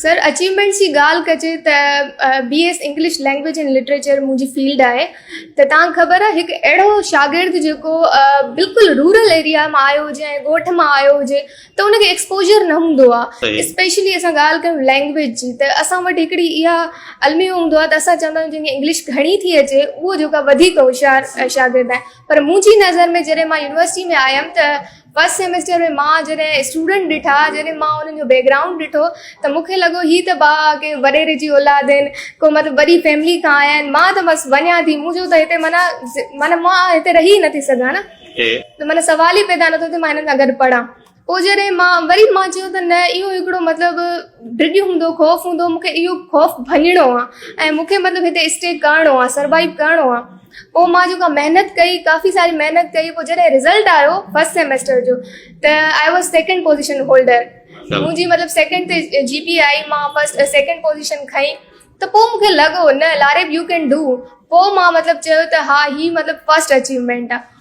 سر achievements جي ڳالهه ڪجي ته B S English language and literature منهنجي فيلڊ آهي ته تان خبر آهي هڪ اهڙو شاگرد جيڪو بلڪل رورل ايريا مان آيو هجي ۽ ڳوٺ مان آيو هجي ته ان کي ايڪسپوجر نه هوندو آهي اسپيشلي اسان ڳالهه ڪيون لينگويج جي ته اسان وٽ هڪڙي اها الميو هوندو آهي ته اسان چوندا آهيون جنهن کي انگلش گهڻي ٿي اچي اهو جيڪو وڌيڪ هوشيار شاگرد آهي پر منهنجي نظر ۾ جڏهن مان يونيورسٽي ۾ آيم ته فرسٽ سيمسٽر ۾ مان جڏهن اسٽوڊنٽ ڏٺا جڏهن مان انهن جو بيڪگرائونڊ ڏٺو ته مون کي لڳو هي ته بابا ڪنهن وڏيري جي اولاد آهن ڪو مطلب وڏي فيملي کان آيا آهن مان ته بس وڃان ٿي مون چيو ته هتي معنيٰ معنيٰ مان هتي رهي ئي نٿي سگهان نه ته معنيٰ سوال ئي پيدا نٿو ٿي مان هنن سان گڏ پڙهان پوء جڏهن مان وري مان چيو ته نه اهو هڪڙو مطلب ڊڄ هوندو خوف هوندو مون کي اهو خوف ڀڃڻو آهي ۽ مون کي مطلب هتي اسٽي ڪرڻو آهي سروائيو ڪرڻو آهي پوء مان جيڪا محنت ڪئي ڪافي ساري محنت ڪئي پوء جڏهن رزلٽ آيو فسٽ سيمسٽر جو ته I was second position holder منهنجي مطلب سيڪنڊ تي جي پي آئي مان فسٽ سيڪنڊ پوزيشن کئي ته پوء مون کي لڳو نه لاريب يو ڪين ڊو پوء مان مطلب چيو ته ها هي مطلب فسٽ اچيومينٽ آ